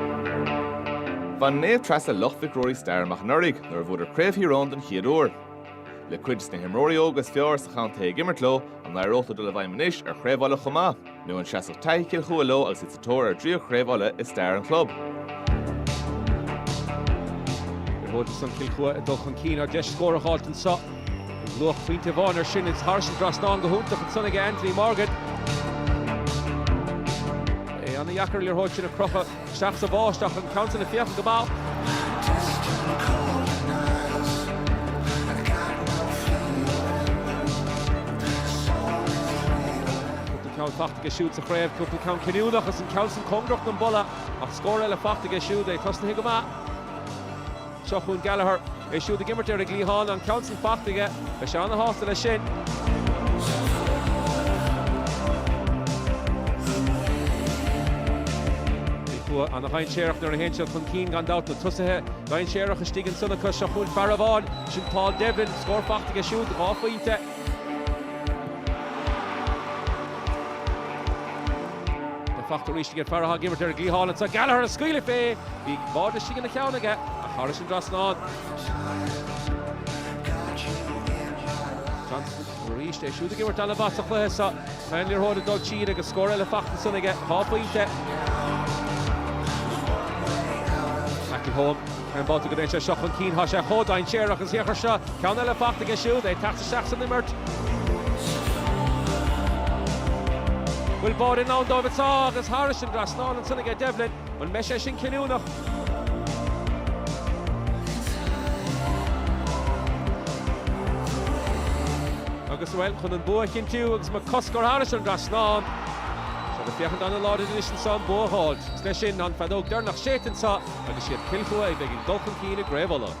Bhain Naomh Treasa Loch Mhic Ruairí stair amach anuraidh nuair a bhuadar Craobh Thír Eoghain den chéad uair. Le cuid de na himreoirí óga is fearr sa chontae ag imirt leo, an n-éireodh leo dul i bhfeidhm anois ar Chraobh Uladh chomh maith? Nó an seasfadh taithí Chill Chua leo agus iad sa tóir ar a dtríú Craobh Uladh i stair an chlub? Bhuadar san Chill Chua ag dul chun cinn ar deis scór a fháilt anseo. Luach pointe amháin air sin is thairis an dtrasnán go hiontach ansan aige Anthony Morgan. É ana dheacair liathróid sin a crochadh isteach sa bháisteach ach an ceann sin ag féachaint go maith. Cúpla ceann fachta aige siúd sa chraobh, cúpla ceann cinniúnach is an ceann sin cóngarach don bpola ach scór eile fachta aige siúd, é tosnaithe go maith. Seo chugainn Gallagher. É siúd ag imirt ar an gcliathán, an ceann san fachta aige. Beidh sé an-sásta leis sin. Cill Chua ana dhainséarach nuair a théann siad chun cinn gan dabht. Na tosaithe dainséaracha istigh ansan acu. Seo chugainn fear amháin. Sin Paul Devlin. Scór fachta aige siúd. Dhá phointe. Spás fachta arís ag an fear atá ag imirt ar an gcliathán anseo, Gallagher ag scaoileadh fé. Bhí an bád istigh ina cheann aige ach thairis an dtrasnán. Johnson arís é siúd ag imirt ana mhaith sa chluiche seo. Faigheann an liathróid ag dul tríd agus scór eile fachta ansan aige, dhá phointe. McElholm. Gach aon bhabhta go dtéann sé seo chun cinn, tá sé chomh dainséarach Shealan Johnston seo, ceann eile fachta aige siúd, é tagtha isteach san imirt. Bhfuil bád i ndán dóibh anseo agus thairis an dtrasnán ansan aige Devlin. An mbeidh sé sin cinniúnach? Agus bhuel, chun an bua a chinntiú agus McCusker thairis an dtrasnán. Tá siad ag féachaint an-láidir anois anseo an bua a fháilt. Is leis sin an feadóg deireanach séidte anseo. agus is iad Cill Chua a bheidh ag dul chun cinn i gCraobh Uladh.